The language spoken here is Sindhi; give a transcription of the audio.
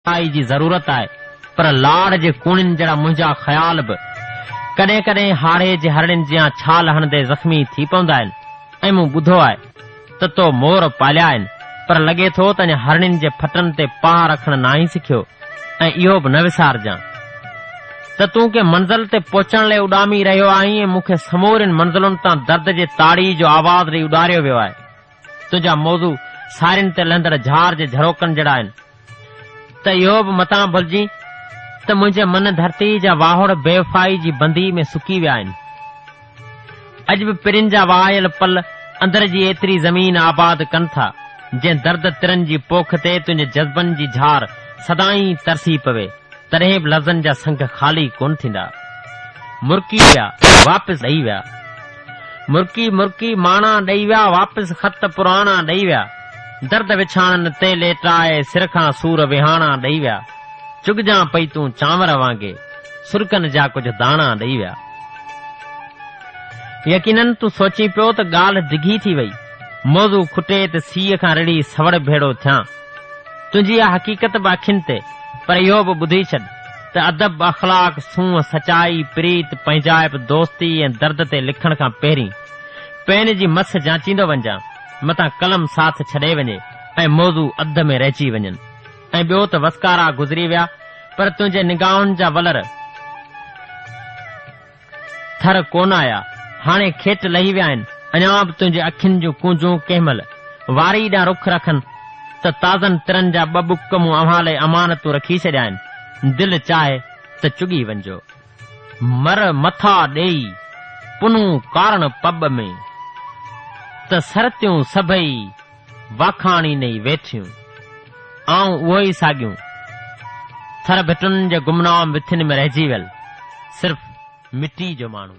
ڪائي جي ضرورت آهي، پر لاڙ جي ڪوڻين جهڙا منهنجا خيال به ڪڏهن ڪڏهن هاڙهي جي هرڙين جيان ڇال هڻندي زخمي ٿي پوندا آهن ۽ مون ٻڌو آهي ته تو مور پاليا آهن پر لڳي ٿو ته اڃا هرڙين جي ڦٽن تي پاهه رکڻ ناهين سکيو ۽ اهو به نه وسارجان ته تون ڪنهن منزل تي پهچڻ لئي اڏامي رهيو آهين ۽ مون کي سمورين منزلن تان درد جي تاڙي جو آواز ڏئي اڏاريو ويو آهي. تنهنجا موضوع سارين تي لهندڙ جهار جي جهروڪن جهڙا آهن. ته اهو به متان ڀلجين ته منهنجي من ڌرتي جا واهوڙ بيوفائي جي بندي ۾ سڪي ويا آهن. اڄ به پرين جا وهايل پل اندر جي ايتري زمين آباد ڪن ٿا، جنهن درد ترن جي پوک تي تنهنجي جذبن جي جھار سدائين ترسي پوي، تڏهن به لفظن جا سنگ خالي ڪونه ٿيندا. مرڪي ويا، واپس ڏئي ويا. مرڪي مرڪي ماڻا ڏئي ويا، واپس خط پراڻا ڏئي ويا. درد وڇاڻن تي ليٽائي، سر کان سور وهاڻا ڏئي ويا. چگجان پئي تون چانور وانگي، سرڪن جا ڪجهه داڻا ڏئي ويا. يقينن تون سوچين پيو ته ڳالهه ڊگهي ٿي وئي، موضوع کٽي ته سيء کان رڙهي سوڙ ڀيڙو ٿيان. تنهنجي اها حقيقت به اکين تي، پر اهو به ٻڌي ڇڏ. ته ادب، اخلاق، سونهن، سچائي، پريت، پنهنجائپ، دوستي ۽ درد تي لکڻ کان پهرين پين جي مس جانچيندو وڃجان، متان قلم ساٿ ڇڏي وڃي ۽ موضوع اڌ ۾ رهجي وڃن ۽ ٻيو ته وسڪارا گذري ويا پر تنهنجي نگاهن جا ولر، ٿر ڪونه آيا، هاڻي کيٽ لهي ويا آهن، اڃا به تنهنجي اکين جون ڪونجون ڪنهن مهل واري ڏانهن رخ رکن ته تازن ترن جا ٻه ٻڪ مون اوهان لئي امانتون رکي ڇڏيا آهن، دل چاهي ته چڳي وڃجو. مر مٿا ڏيئي پنهون ڪارڻ پٻ ۾، ته سرتيون سڀئي واکاڻيندي ويٺيون، آئون اهي ئي ساڳيون ٿر ڀٽن جي گمنام وٿين ۾ رهجي ويل صرف مٽي جو ماڻهو.